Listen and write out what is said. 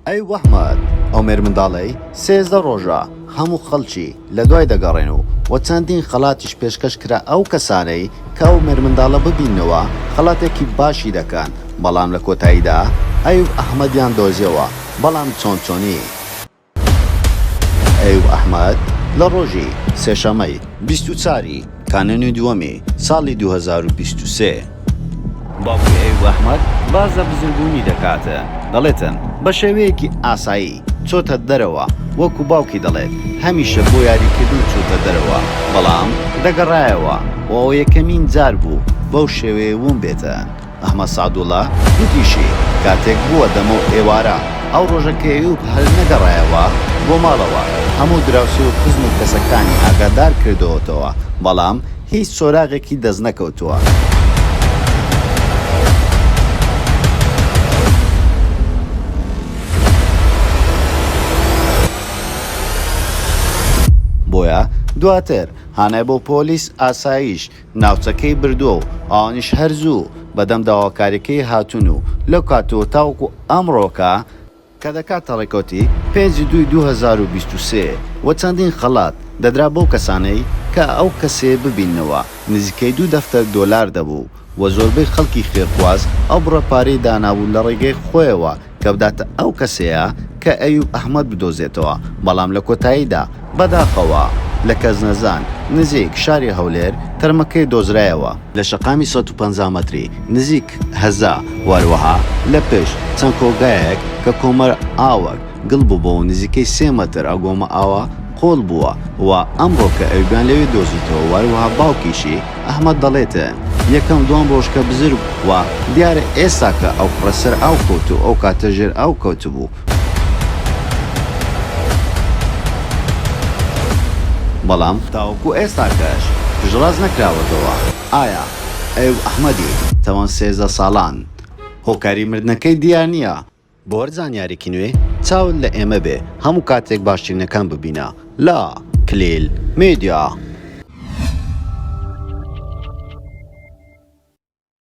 ئەی وەحمەت عومێر منداڵەی سێزدە ڕۆژە هەموو خەڵکی لە دوای دەگەڕێن و وە چەندین خەڵاتیش پێشکەش کرا ئەو کەسانەی کە عومێر منداڵە ببیننەوە خەڵاتێکی باشی دەکەن بەڵام لە کۆتاییدا ئەیوب ئەحمەدیان دۆزیەوە بەڵام چۆن چۆنی ئەیوب ئەحمەد لە ڕۆژی سێشەمەی بیست و چاری. کانونی دووەمی ساڵی دوو هەزار و بیست و سێ. باوکی ئەیوب ئەحمەد باس لە بزربوونی دەکات، دەڵێتن، بە شێوەیەکی ئاسایی چۆتە دەرەوە، وەکو باوکی دەڵێت، هەمیشە بۆ یاریکردن چووتە دەرەوە، بەڵام دەگەڕایەوە و ئەوە یەکەمین جار بوو بەو شێوەیە ونبێتە. ئەحمەد سەعدوڵا گوتیشی، کاتێک بووە دەمەو ئێوارە، ئەو ڕۆژە کە ئەیوب هەر نەگەڕایەوە بۆ ماڵەوە، هەموو دراوسێ و خزم و کەسەکانی ئاگادار کردووەتەوە، بەڵام هیچ سۆراغێکی دەست نەکەوتووە. بۆیە دواتر هانای بۆ پۆلیس ئاسایش، ناوچەکەی بردووە و ئەوانیش هەر زوو بەدەم داواکاریەکەی هاتوون و لەو کاتەوە تاوەکو ئەمڕۆکە، کە دەکاتە ڕێکەوتی پێنج ی دووی دوو هەزار و بیست و سێ و چەندین خەڵات دەدرا بەو کەسانەی کە ئەو کەسێ ببیننەوە نزیکەی دوو دەفتەر دۆلار دەبوو و زۆربەی خەڵکی خێرخواز ئەو بڕە پارەی دانابوو لە ڕێگەی خۆیەوە کە بداتە ئەو کەسەیە کە ئەیوب ئەحمەد بدۆزێتەوە، بەڵام لە کۆتاییدا بەداخەوە لە کەزنەزان نزیک شاری هەولێر تەرمەکەی دۆزرایەوە. لە شەقامی سەد و پەنجا مەتری نزیک هەزا و هەروەها لە پشت چەند کۆگایەک کە کۆمەر ئاوەک گڵ بووبووە و نزیکەی سێ مەتر ئەو گۆمە ئاوە، قۆڵ بووە و ئەمڕۆ کە ئەویان لەوێ دۆزیتەوە و هەروەها باوکیشی، ئەحمەد، دەڵێتن، یەکەم دووەم ڕۆژ کە بزر بوو و دیارە ئێستا کە ئەو کوڕە سەر ئاو کەوت و ئەو کاتە ژێر ئاو کەوتبوو، بەڵام تاوەکو ئێستاکەش پشتڕاست نەکراوەتەوە ئایا ئەو، ئەحمەدی، تەمەن سێزدە ساڵان هۆکاری مردنەکەی دیار نییە بۆ هەر زانیارێکی نوێ چاوت لە ئێمە بێ هەموو کاتێک باشترینەکان ببینە لە کلیل میدیا.